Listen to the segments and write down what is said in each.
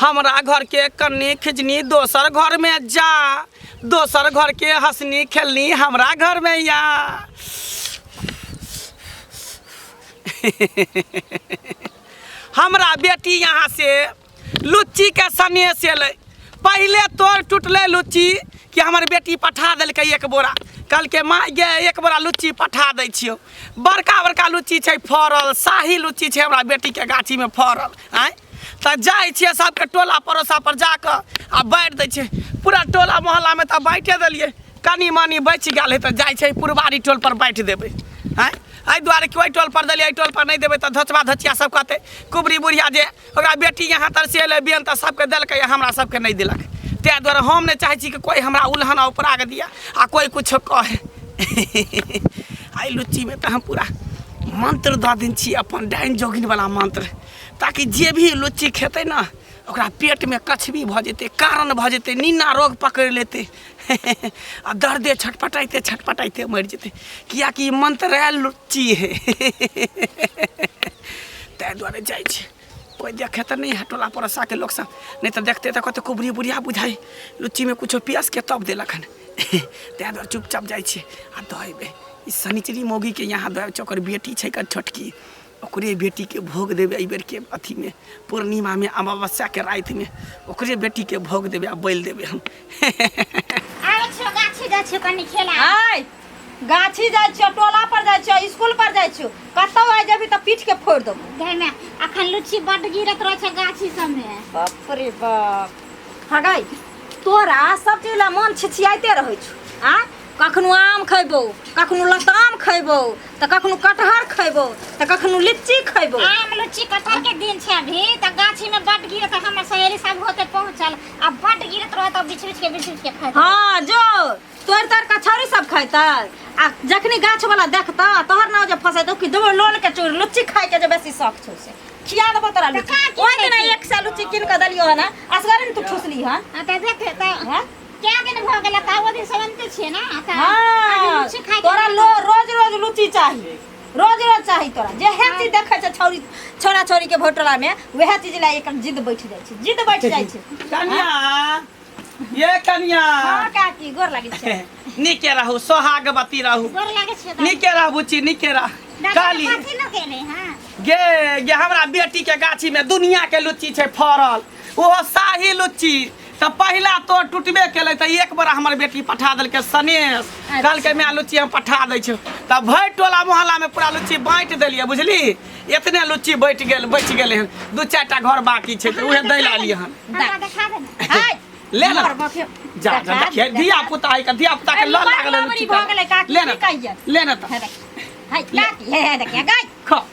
हमरा घर के कन्नी खिजनी दोसर घर में जा दोसर घर के हंसनी खेलनी हमरा घर में या हमरा बेटी यहाँ से लुच्ची के सने से ले पहले तोर टूटले लुच्ची कि हमर बेटी पठा देलकै एक बोरा कहलकै माँ गे एक बोरा लुच्ची पठा दै छियौ बड़का बड़का लुच्ची छै फड़ल शाही लुच्ची छै हमरा बेटीके गाछीमे फड़ल आँय तऽ जाइ छियै सबके टोला पड़ोसा पर जाकऽ आ बाँटि दै छियै पूरा टोला मोहल्लामे तऽ बाँटे देलियै कनी मनी बचि गेल है तऽ जाइ छै पुरबारी टोल पर बाँटि देबै आँय एहि दुआरे कि ओहि टोल पर देलियै एहि टोल पर नहि देबै तऽ धोचबा धोचिया सब कहतै कुबरी बुढ़िया जे ओकरा बेटी यहाँ तर से एलै बियन तऽ सबके देलकै आ हमरा सबके नहि देलक ताहि दुआरे हम नहि चाहै छी कि कोइ हमरा उल्हन आ उपराग दिया आ कोइ किछो कहे एहि लुच्चीमे तऽ हम पूरा मंत्र दऽ देने छी अपन डाइन जोगिनवला मंत्र ताकि जे भी लुच्ची खेतै ने ओकरा पेटमे कछबी भऽ जेतै कारण भऽ जेतै निन्ना रोग पकड़ि लेतै आ दर्दे छटपटाइते छटपटाइते मरि जेतै किएकि ई मंत्र आयल लुच्ची हे ताहि दुआरे जाइ छै कोई देखे तो नहीं है टोला पड़ोसा के लोग सब नहीं तो देखते तो कहते कुबरी बुढ़िया बुझाई लुच्ची में कुछ पियास के तब दिलक हन तै दुआरे चुपचाप जाइ छी आ दहेबे ई शनिचरी मौगी के यहाँ दहेब छै ओकर बेटी छै कर छोटकी ओकरे बेटी के भोग देबे एहि बेर के अथी में पूर्णिमा में अमावस्या के राति में ओकरे बेटी के भोग देबे आ बैल देबे हम आबै छियो गाछी जाइ छियो कनि खेला आय गाछी जाइ छियो टोला पर जाइ छियो स्कूल पर जाइ छियो कतौ आइ जेबी तऽ पीठ के फोड़ देबो गई में अखन लुच्ची बड गिरत रहे छै गाछी सब में बाप रे बाप हगै तोरा सब चीज ला मन छिछियाइते रहै छौ आ कखनो आम खैबो कखनो लताम खैबो तऽ कखनो कटहर खैबो तऽ कखनो लीची खैबो आम लुच्ची कटहर के दिन छै अभी तऽ गाछी में बड गिरत हमर सहेली सब होते पहुंचल अब बट गिरत रहे तब बिछ बिछ के बिछ बिछ के खाए हाँ जो तोड़ तोड़ के छौरी सब खैतै आ जखनी गाछ वाला देखतऽ तोहर नाव जे फसेतौ कि देबो लोल के चूर लुच्ची खाय के जे बेसी शौक छौ से खिया देबो तोरा लुच्ची का की ओहि दिना खैती? एक सए लुच्ची कीन के देलियो हन असगरे ने तू ठुसली हन आ त देख त हाँ? क्या दिन भ गेल त ओ दिन समझते छिए ना आ त आज हाँ लुच्ची खाए के तोरा लो रोज रोज लुच्ची चाही रोज रोज चाही तोरा जे हे चीज देखै छै छौरी छोरा छोरी के भोटरा में वएह चीज ला एकर जिद बैठ जाइ छै जिद बैठ जाइ छै कनिया ये कनिया हां काकी गोर लागै छै नीके रहू सोहागवती रहू गोर लागै छै दादी। नीके रह बुची नीके रह दादी काली के कथी लगेने हैं गे गे हमरा बेटी के गाछी में दुनिया के लुच्ची छै फड़ल ओहो शाही लुच्ची तऽ पहिला तोर टूटबे केलै तऽ एक बेर हमर बेटी पठा देलकै सनेश कहलकै माय लुच्ची हम पठा दै छियौ तऽ भरि टोला मोहल्लामे पूरा लुच्ची बाँटि देलियै बुझली एतने लुच्ची बैठ गेल बचि गेलै हन दू चारि टा घर बाकी छै तऽ उहे दै लए एलियै हन हमरा देखा दे ने हाय ले ले। हमर बखे- जा जा देखा देखिए दे। धिया पुता है का धिया पुता के अरे लल बड़ लागल है लबरी लुच्ची भऽ गेलै, का। काकी ले की ने कहियै? ले ने तऽ हे देख, हाय, काकी, हे, हे, देखियै, गाय। खा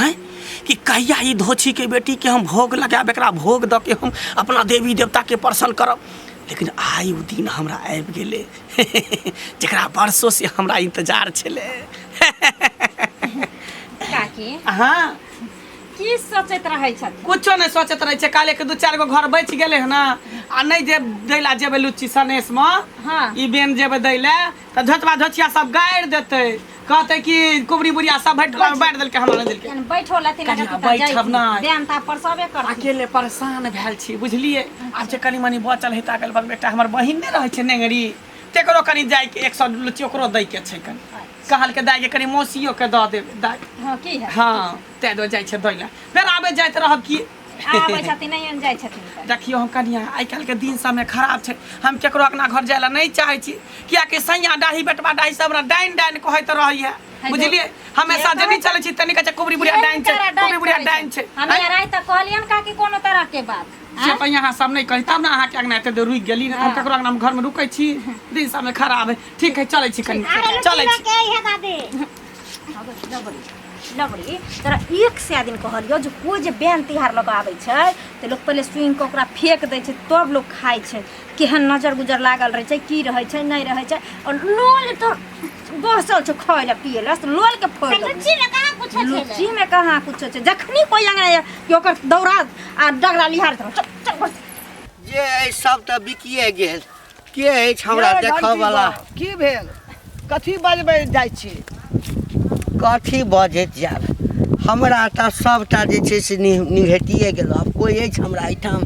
आँय कि कहिया ई धोछीके बेटीके हम भोग लगायब एकरा भोग दऽ के हम अपना देवी देवताके प्रसन्न करब लेकिन आइ ओ दिन हमरा आबि गेलै जकरा वर्षो से हमरा इंतजार छलै काकी हाँ की सोचैत रहै छथि कुछो नहि सोचैत रहै छै काल्हि के दू चारि गो घर बचि गेलै हँ ने आ नहि जे दै ला जेबै लुच्ची सनेसमे हाँ। ई बेन जेबै दै लए तऽ धोतबा धोतिया सब गाड़ि देतै कहतै कि कुबरी बुढ़िया सब भरि टोला बाँटि देलकै हमरा नहि देलकै बैठो लेथिन कनिया बैठब नहि देन तऽ परसबे कर अकेले परेशान भेल छी बुझलिए आब जे कनी मनी बचल है अगल बगल बेटा हमर बहिन नहि रहै छै नेंगरी तेकरो कनी जाय के एक सौ लुच्ची ओकरो दै के छै कनी अच्छा। कहल के दाय के कनी मौसियो के दऽ देब दाय हाँ की है हाँ तै दो जाय छै दै लए फेर आबे जाइत रहब की खाना अबै छथिन नहि आनि जाइ छथिन तऽ। देखियौ हम कनिया आइ काल्हिके दिन समय खराब छै हम केकरो अंगना घर जाय लए नहि चाहै छी कियाकि सैया डाही बेटवा डाही सब हमरा डाइन डाइन कहैत रहैया हेलो। बुझलियै हमेशा जे नहि चलै छी तनी कहै छै कुबरी बुढ़िया डाइन छै कुबरी बुढ़िया डाइन छै हम आँय? राय तऽ कहलियन का कि कोनो तरह के बात से आँय? तऽ यहाँ सब नहि कही तब ने अहाँके अंगना एते देर रुकि गेली ने हम हँ। केकरो अंगना घर में रुकै छी दिन समय खराब है ठीक है चलै छी कनी चलै छी के है दादी अबै लबड़ी लबड़ी तोरा एक सए दिन कहलियो जे कोइ जे बैन तिहार लऽ कऽ आबै छै तऽ लोक पहिले सुनि कऽ ओकरा फेक दै छै तब लोक खाइ छै केहन नजर गुजर लागल रहै छै की रहै छै नहि रहै छै आओर लोल तो बसल छौ खाय लए पिए लए से लोल के फोड़ देबो। लुच्ची में कहाँ कुछ है लुच्ची में कहाँ कुछ छै जखनी कोइ अंगना या कि ओकर दौड़ा आ डगरा लिहार धर चल चल बस जे अइ सब तऽ बिकिए गेल के अछि हमरा यौ, देखऽ घंटी वाला बम, की भेल कथी बजबै जाइ छी कथी बजैत जायब हमरा तऽ सभटा जे छै से नि- निघटिए गेलहुँ आब कोइ अछि हमरा एहिठाम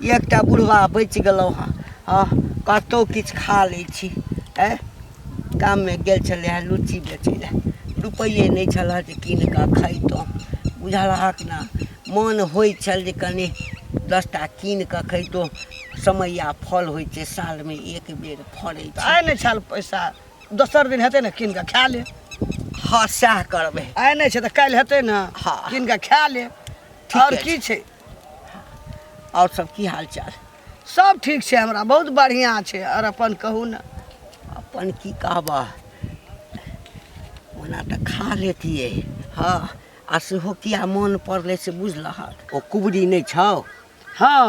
एकटा बुढ़वा बचि गेलहुँ हँ हँ कतहु किछु खा लै छी ए गाममे गेल छलै हँ लुच्ची बेचै लए रुपैए नहि छल हँ जे कीन कऽ खैतहुँ बुझलहक ने मोन होइ छल जे कनि दस टा कीन कऽ खैतहुँ समय आ फल होइ छै सालमे एक बेर फड़ै छै आइ नहि छाल पैसा दोसर दिन हेतै ने कीन कऽ खा ले हँ सएह करबै आइ नहि छै तऽ काल्हि हेतै ने हँ कीन कऽ खा ले आओर की छै आओर सब की हाल चाल सब ठीक छै हमरा बहुत बढ़िआँ छै आओर अपन कहू ने अपन की कहबह ओना तऽ खा लेतियै हँ आ सेहो किया मोन पड़लै से बुझलहक ओ कुबरी नहि छौ हँ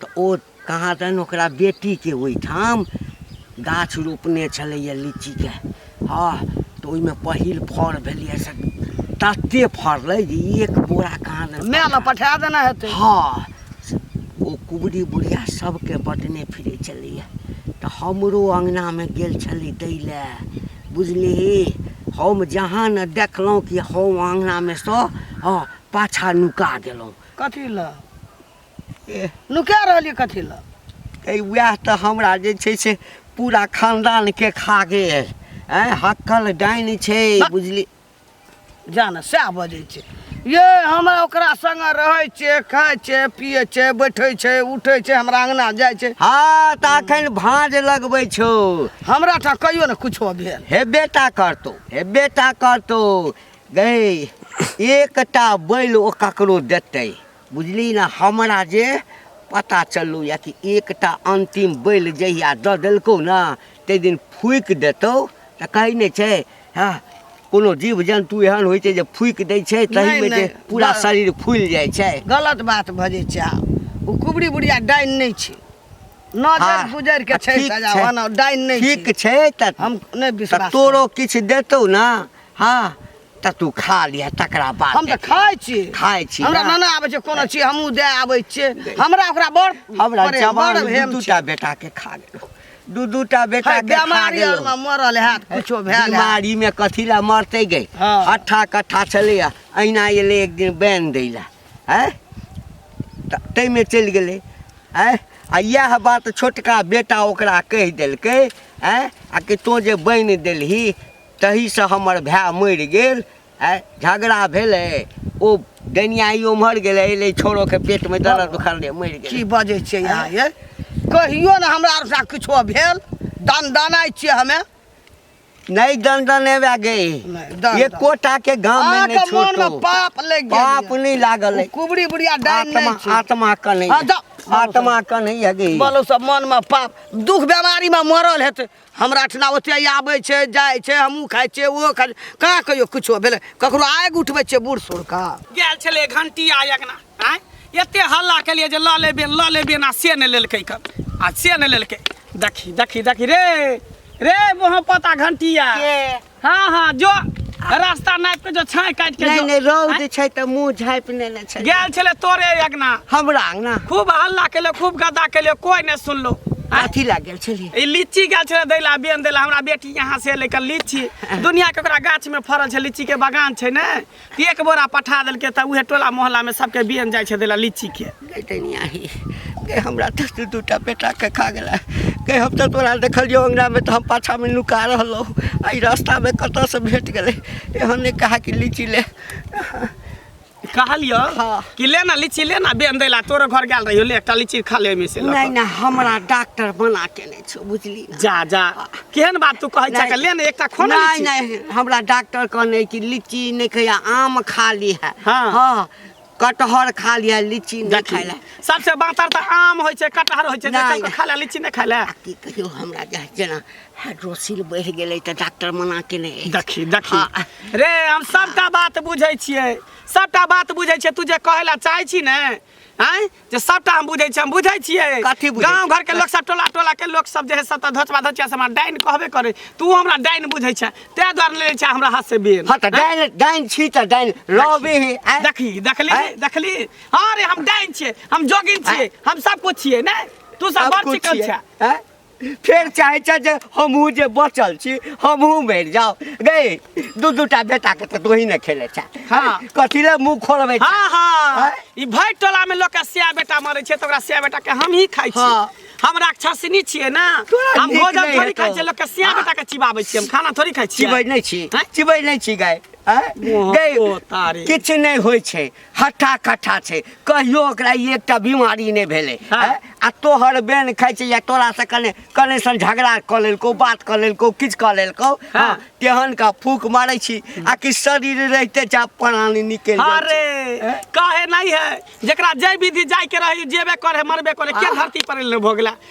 तऽ ओ कहाँ दन ओकरा बेटीके ओहिठाम गाछ रोपने छलैए लीचीके हँ तऽ ओहिमे पहिल फड़ भेलैए से तते फड़लै जे एक बोरा कहाँ दन माय ने पठा देना हेतै हँ से ओ कुबरी बुढ़िया सभके बटने फिरै छलैए तऽ हमरो अङ्गनामे गेल छलै दै लए बुझलिही हम जहाँ ने देखलहुँ कि हम अङ्गनामे सँ हँ पाछा नुका गेलहुँ कथी लए लुका रहलियै कथी लए ए वएह तऽ हमरा जे छै से पूरा खानदान के खा गेल ए हक्कल डाइन छै बुझली जान सएह बजै छै ये हमरा ओकरा संग रहै छै खाइ छै पिए छै बैठे छै उठे छै हमरा अंगना जाइ छै हाँ तऽ अखन भाँज लगबै छौ हमरा टा कहियो ने कुछो भेल हेबे टा करतौ हेबे टा करतौ गै एकटा बैल ओ ककरो देतै बुझली ने हमरा जे पता चललौ यऽ कि एकटा अन्तिम बैल जहिया दऽ देलकौ ने ताहि दिन फूकि देतौ तऽ कहै नहि छै हँ कोनो जीव जन्तु एहन होइ छै जे फूकि दै छै नहि, तहिमे जे नहि, पूरा गलत। शरीर फूलि जाइ छै गलत बात बजै छै आब ओ कुबरी बुढ़िया डाइन नहि छै नजर आ, गुजर के आ, छै ठीक सजा छै। ओना डाइन नहि ठीक छै छै तऽ हम नहि तऽ विश्वास तोरो किछु देतौ ने हँ तऽ तू खा लिह तकरा बाद हम तऽ देखिहे। खाइ छी खाइ छी हमरा ने? नाना आबै छै कोनो चीज हमहूँ दए आबै छियै हमरा ओकरा बड़ हमरा बड़े- जवान बड़ दू भेम दू छै। टा बेटा के खा गेलो दू दू टा बेटा है, के खा बेमारी गेलो आरमे मरल हैत कुछो भेल हैत। बीमारी में कथी ला मरते गई हाँ। हट्ठा कट्ठा छलै अहिना एलै एक दिन बैन दै ला आँय तऽ ताहिमे चलि गेलै आँय आ इएह बात छोटका बेटा ओकरा कहि देलकै आँय आ कि तोँ जे बैन देलही तहीसँ हमर भाय मरि गेल आइ झगड़ा भेलै ओ डनियाई ओम्हर गेलै एलै छोरोके पेटमे दर्द उखड़लै मरि की गेलै बजै छियै यहाँ ये कहियो ने हमरा आर साथ किछो भेल दन दनाइ छियै हमे नहि दंडन एबे गई नहि, दंडन। एकोटा के गाम मे अहाँके नहि मोनमे छोटो पाप लागि गेल पाप यऽ। नहि लागल ओ है कुबरी बुढ़िया डाइन आत्मा नहि छै आत्मा के नहीं हाँ, है। जाओ। आत्मा के नहीं है गई बोलो सब मनमे पाप दुख बेमारीमे मरल हेतै हमरा अठना ओते आबै छै जाइ छै हमहूँ खाइ छियै ओहो खाइ छै कहाँ कहियो किछो भेलै ककरो आगि उठबै छियै बूढ़ सूढ़के गेल छलै घंटी आ अगना आँय एते हल्ला केलियै जे लऽ लेबे लऽ लेबे ना से नहि लेलकै कन आ से नहि लेलकै देखी देखी देखी रे रे मोह पता घंटिया हाँ हाँ जो रास्ता नापि के जो छाँय काटि के नहीं जो नहीं रौद आँय? छै तऽ मुँह झाँपि लेने छै गेल छले तोरे अगना हमरा अंगना खूब हल्ला केले खूब गदा केले कोई नहीं सुनलो आँय? अथी लग गेल छलियै ई लीची गाछ छलै दैला बेन दैला हमरा बेटी यहाँ से लेकर लीची दुनिया के ओकरा गाछ में फड़ल छै लीची के बगान छै ने एक बोरा पठा देलकै तऽ उहे टोला मोहल्लामे सबके बियन जाइ छै देला लीचीके गैतनिया ही गै हमरा तऽ दू दू टा बेटाके खा गेला गै हम तऽ तोरा देखलियौ अङ्गनामे तऽ हम पाछामे नुका रहलहुँ एहि रास्तामे कतऽसँ भेट गेलै एहन नहि कहा कि लीची ले कहलियो हाँ। कि ले ना लीची ले ना बेन देला तोरो घर गेल रहियो ले एकटा लीची खा ले ओहिमे से लऽ कऽ। नहि नहि हमरा डॉक्टर बना के नहि किछु बुझली ना। जा जा केहन बात तू कहै छा ले ने एकटा खो ना नहीं लीची। नहीं हमरा डॉक्टर कहने कि लीची नहीं खाया आम खा ली है हाँ। हाँ कटहर खा लिया लीची नहीं देखी, खाइला सबसे बातर तऽ आम होइ छै कटहर होइ छै जे नहीं। कल खा ले लीची नहि खा ले आ की कहियो हमरा जे जेना हाइड्रोसिल बढ़ि गेलै तऽ डॉक्टर मना केने अछि। देखी देखी हाँ। रे हम सबटा बात बुझै छियै सबटा बात बुझै छियै तू जे कहै लए चाहै छी ने आँय जे सबटा हम बुझै छी हम बुझै छियै कथी बुझै गाँव घर के लोक सब टोला टोला के लोक सब जे है सब तऽ धोचबा धोचिया से हमरा डाइन कहबे करे तू हमरा डाइन बुझै छै तै द्वारे ले छै हमरा हाथ से बेर हँ तऽ डाइन डाइन छी तऽ डाइन रहबे हे आँय? देखली देखली आँय? देखली हाँ रे हम डाइन छियै हम जोगिन छियै हम सब कुछ छियै ने तू सब सब बड़ कुछ चिकन छियै, छै आँय? फेर चाहे छै जे हमहूँ जे बचल छी हमहूँ मरि जाउ गै दू दू टा बेटाके तऽ तोही ने खेले छै हाँ। कथी लए मुँह खोलबै छै? हाँ हाँ आँय? ई भरि टोला में लोग के सिया बेटा मरे छै तो ओकरा सिया बेटा के हम ही खाई छी हाँ। हम राक्षसनी छिए ना तोरा हम नीक भोजन नहीं थोड़ी हेतौ। खाई छी लोग के सिया बेटा के चिबाबै छी हम खाना थोड़ी खाई छी चिबै नहि छी आँय? चिबै नहि छी गाय आँय? ओ, गै ओ तारी। किछु नहि होइ छै हट्ठा कट्ठा छै कहियो ओकरा ई एकटा बीमारी नहि भेलै हाँ। हैं? आ तोहर बेन खाइ छै या तोरा से कने कने सन झगड़ा कऽ लेलकौ बात कऽ लेलकौ किछु कऽ लेलकौ हाँ। हाँ, तेहन का फूक मारै छी आ कि शरीर रहिते जा प्राणी निकलि जाइ छै। अरे काहे नहीं है जकरा जय विधि जाय के रही जेबे करे मरबे करे के धरती पर ले भोगला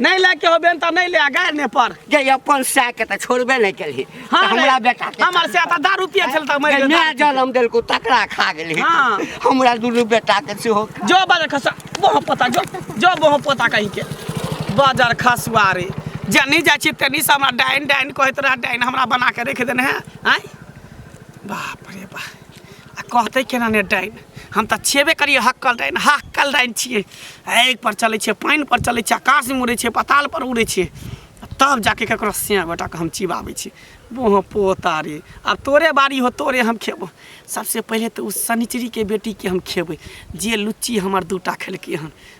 नहीं ले के होबे त नहीं ले आ गाय ने पर जे अपन सा के त छोड़बे नहीं केली हाँ हाँ, हमरा नहीं। बेटा के हमर से आता दारू पिए चल तक मर जे गेल नया जन्म देलको तकरा खा गेली हाँ। हमरा दुनू बेटा के सेहो खा- जो बाजार खसा बोह पता जो जो बोह पता कहीं के बाजार खसवारी जनी जा छी तनी से हमरा डाइन डाइन कहत रहा डाइन हमरा बना के रख देने है आय बाप रे बाप आ कहते केना ने डाइन हम तऽ छेबे करियै हक्कल डाइन हक्कल डाइन छियै आगि पर चलै छियै पानि पर चलै छियै आकाश मे उड़ै छियै पताल पर उड़ै छियै आ तब जाके ककरो सिया गोटा के हम चिबाबै छियै बोह पोता रे आब तोरे बारी हो तोरे हम खेबो सबसे पहिले तऽ ओ शनिचरी के बेटी के हम खेबै जे लुच्ची हमर दूटा खेलकै हन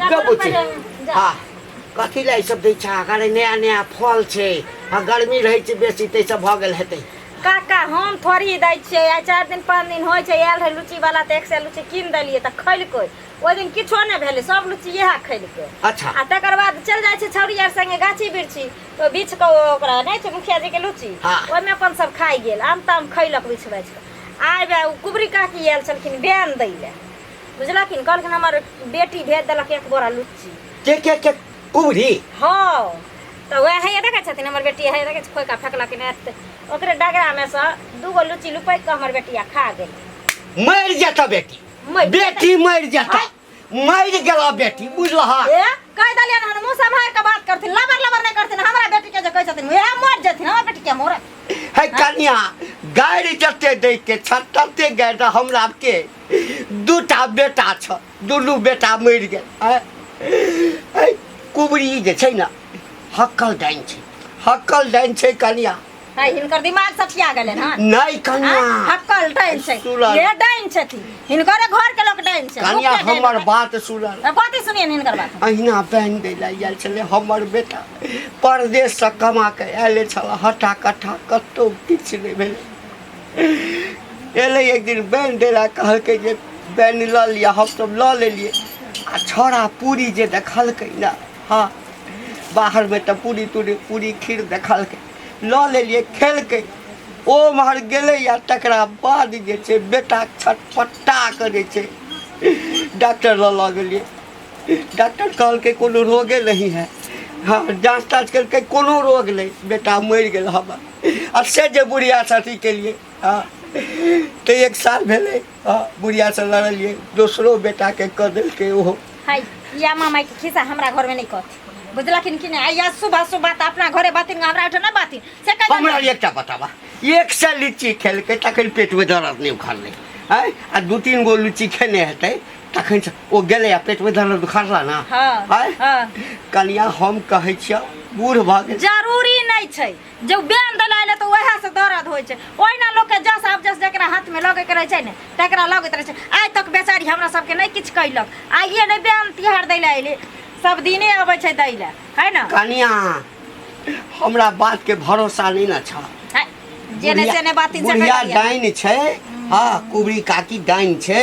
के बुझे हाँ कथी लए सब दै छा अगर नया नया फल छै आ गर्मी रहै छै बेसी तै सब भऽ गेल हेतै काका हम थोड़ी दै छियै आ चारि दिन पाँच दिन होइ छै आयल रहै लुची वाला तऽ एक से लुची कीन देलियै तऽ खैलकै ओहि दिन किछो नहि भेलै सब लुची इएह खैलकै अच्छा आ तकर बाद चलि जाइ छै छौरी आर संगे गाछी बिरछी तऽ बीछ कऽ ओ ओकरा नहि छै मुखिया जी के लुची हाँ। ओहिमे अपन सब खाइ गेल आम ताम खैलक बीछ बाछ कऽ आइ बे ओ कुबरी काकी आयल छलखिन बैन दै लए बुझलखिन कहलखिन हमर बेटी भेज देलक एक बोरा लुच्ची के के के कुबरी हाँ तो वह है देखे छथिन हमर बेटी है देखे खोइ का फेंकलखिन एत ओकरे डगरा में से दूगो लुच्ची लुपैक के हमर बेटिया खा गेली मर जाता बेटी मरि बेटी मर जाता मर गेला बेटी बुझलहा ए कह दलिया ना मुंह संभाल के बात करथिन लबर लबर नहीं करथिन हमरा बेटी के जे कह छथिन वह मर जथिन हमर बेटी के मोर है कन्या गाड़ी जते दै के छत्तते गाड़ी हमरा के दूटा बेटा छ दुनू बेटा मरि गेल आँय? ऐ, कुबरी जे छै ने हक्कल डाइन छै हक्कल डाइन छै कनिया है हिनकर दिमाग सठिया गेलै हन नहि कनिया आँय, हक्कल डाइन छै सुलल। ये डाइन छथिन हिनकर घर के लोग डाइन छै कनिया मुफ्ते डाइन हमर छै। बात सुनल ए, बाते सुनिए ने हिनकर बात अहिना बैन दै लए आयल छलै हमर बेटा परदेशसँ कमा कऽ आयल छल हट्ठा कट्ठा कतहु किछु नहि भेलै एलै एक दिन बैन डेरा कहलकै जे बैन लऽ लिअ हमसभ लऽ लेलियै आ छौड़ा पूरी जे देखलकै ने हँ बाहरमे तऽ पूरी तूरी पूरी खीर देखलकै लऽ लेलियै खेलकै ओ उम्हर गेलै आ तकरा बाद जे छै बेटा छटपट्टा करै छै डॉक्टर लऽ लऽ गेलियै डॉक्टर कहलकै कोनो रोगे नहीं है हँ जाँच ताँच केलकै कोनो रोग नहि बेटा मरि गेल हमर आ से जे बुढ़िया से अथी केलिए हँ तो एक साल भेले हँ बुढ़िया से लड़लिए दोसरो बेटा के कह देलके ओहो हाय या मामा के खिस्सा हमरा घर में नहीं कहती बुझलखिन कि नहीं आइया सुबह सुबह तो अपना घरे बातिन हमरा उठे ना बातिन से कह हमरा एकटा बताबा एक से लीची खेलकै तखन पेटमे दर्द नहि उखड़लै आँय आ दू तीन गो लीची खेने हेतै तखन से ओ गेलै आ पेट में धरल दुखारला ना हाँ, आय? हाँ। कनिया हम कहै छियै बूढ़ भऽ गेल जरूरी नहीं छै जब बेन दला एले तो वएह से दर्द होइ छै ओहिना लोग के जस आब जस जकरा हाथ में लगे के रहे छै ने तकरा लगैत रहे छै आइ तक बेचारी हमरा सबके नहीं किछ कैलक आइए नहीं बेन तिहार दै ले एले सब दिने अबै छै दै ले है ना कनिया हमरा बात के भरोसा नहीं ना छ है, जेने बुढ़िया- तेने बात इन बुढ़िया डाइन छै हाँ कुबरी काकी डाइन छै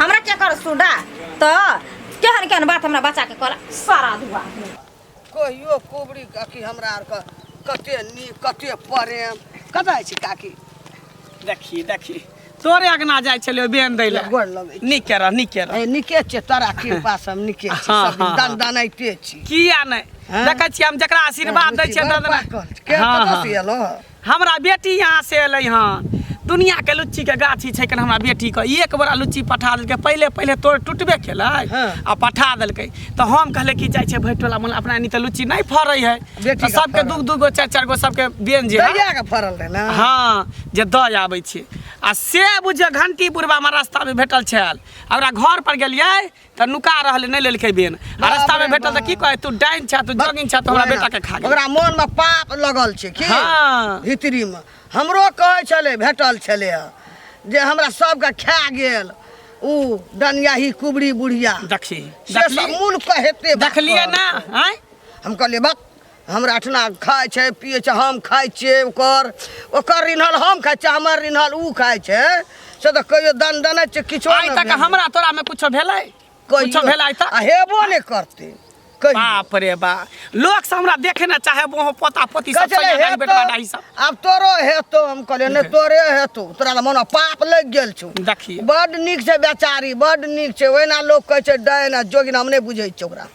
हमरा क्या कर सुडा तो केहन केहन बात हमरा बच्चा के कहला सारा दुआ कहियो कोबरी काकी हमरा आर के कते नी कते प्रेम कतऽ अछि काकी देखी देखी तोरे अगना जाइ छलियो बेन दै लए गोर लगै छी। नीक रह नीक रह ए निके छै तोरा कृपा सब निके छै हाँ, सब हाँ, दन हाँ। दनाइते छी किया नहि हाँ? देखै छियै हम जकरा आशीर्वाद दै छियै बुझियौ, तकरा- पाकल। के हाँ, कतऽ हाँ। से एलौ हमरा बेटी यहाँ से अलै हन दुनिया के लुच्ची के गाछी छै कन हमरा बेटी के एक बड़ा लुच्ची पठा देलकै पहिले पहिले तोड़ टूटबे केलै हाँ। आ पठा देलकै तो हम कहले कि जाइ छै भैट टोला मोला अपना एनी तऽ लुच्ची नहि फड़ै है बेटी तऽ का सबके फड़ल। दू दू गो चारि चारि गो सबके बेन जे है, दहिया के फरल रहे ना हँ जे दऽ आबै छै आ से बुझियौ घंटी बुढ़बा हमरा रस्तामे भेटल छल आ ओकरा घर पर गेलियै तऽ नुका रहल नहि लेलकै बेन आ रास्ता में भेटल तऽ की कहे तू डाइन छा तू जोगिन छा तू हमरा बेटा के खा गेल ओकरा मन में पाप लगल छै की हाँ। हितरी में हमरो कहे छले भेटल छले जे हमरा सबके खा गेल उ डनिया ही कुबरी बुढ़िया देखी से सब मूल कहेते देखलिए ना आय हम कहलिए बक हमरा अठना खाइ छै पिए छै हम खाइ छिए ओकर ओकर रिन्हल हम खाइ छिए हमर रिन्हल ओ खाइ छै से तऽ कहियो दन दने छै किछो आइ तक हमरा तोरा में कुछो भेलै कुछो भेलै तऽ हेबो नहि करतै बाप रे बा लोग से हमरा देखे ना चाहे वो पोता पोती सब चले हे बेटा डाही सब अब तोरो हे तो हम कहले ने तोरे हे तो तोरा तो मन पाप लग गेल छु देखिए बड निक से बेचारी बड निक से ओना लोग कह छै डायना जोगिन हम नै बुझै छै ओकरा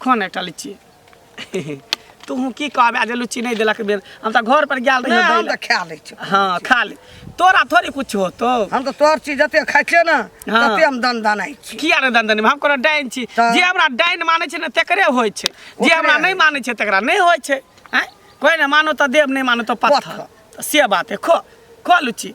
कोन एकटा लिच्ची तू हूँ की कहबे आ जे लुच्ची नहीं देलक बेर हम तो घर पर गेल रही हम तो खा ले हाँ खा ले तोरा थोड़ी कुछ हो तो हम तो तोर चीज जते खाइ छियै ना हाँ। तते हम दन दनाइ छी किया रे दन दन हम कोनो डाइन छी तऽ- जे हमरा डाइन माने छै ने तेकरे होय छै जे ओकरे हमरा होय। नहीं माने छै तेकरा नहीं होय छै हैं कोई ने मानो तो देव नहीं मानो तो पत्थर पत्थर। तऽ से बात है खो खो लुच्ची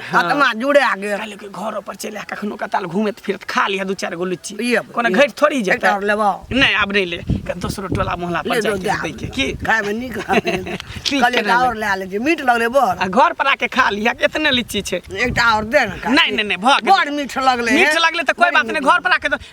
आत्मा जुड़े आ गेल कहले कि घर पर चले आ कखनो कताल घूमत फिरत खा लिया दू चार गो लुच्ची ई अब- कोनो ई- घट थोड़ी एकटा जेता और लेबो नहीं आब नहीं ले कन दोसरो टोला मोहल्ला ले पर लो जाके दे दै के की खाए में नीक ठीक कहले केना और ले ले मीठ लगले बड़ आ घर पर आके खा लिया कि इतने लीची छै एकटा और दे ना नहीं नहीं नहीं भऽ गेल बड़ मीठ लगले मीठ लगले तऽ कोई बात नहीं घर पर आके दो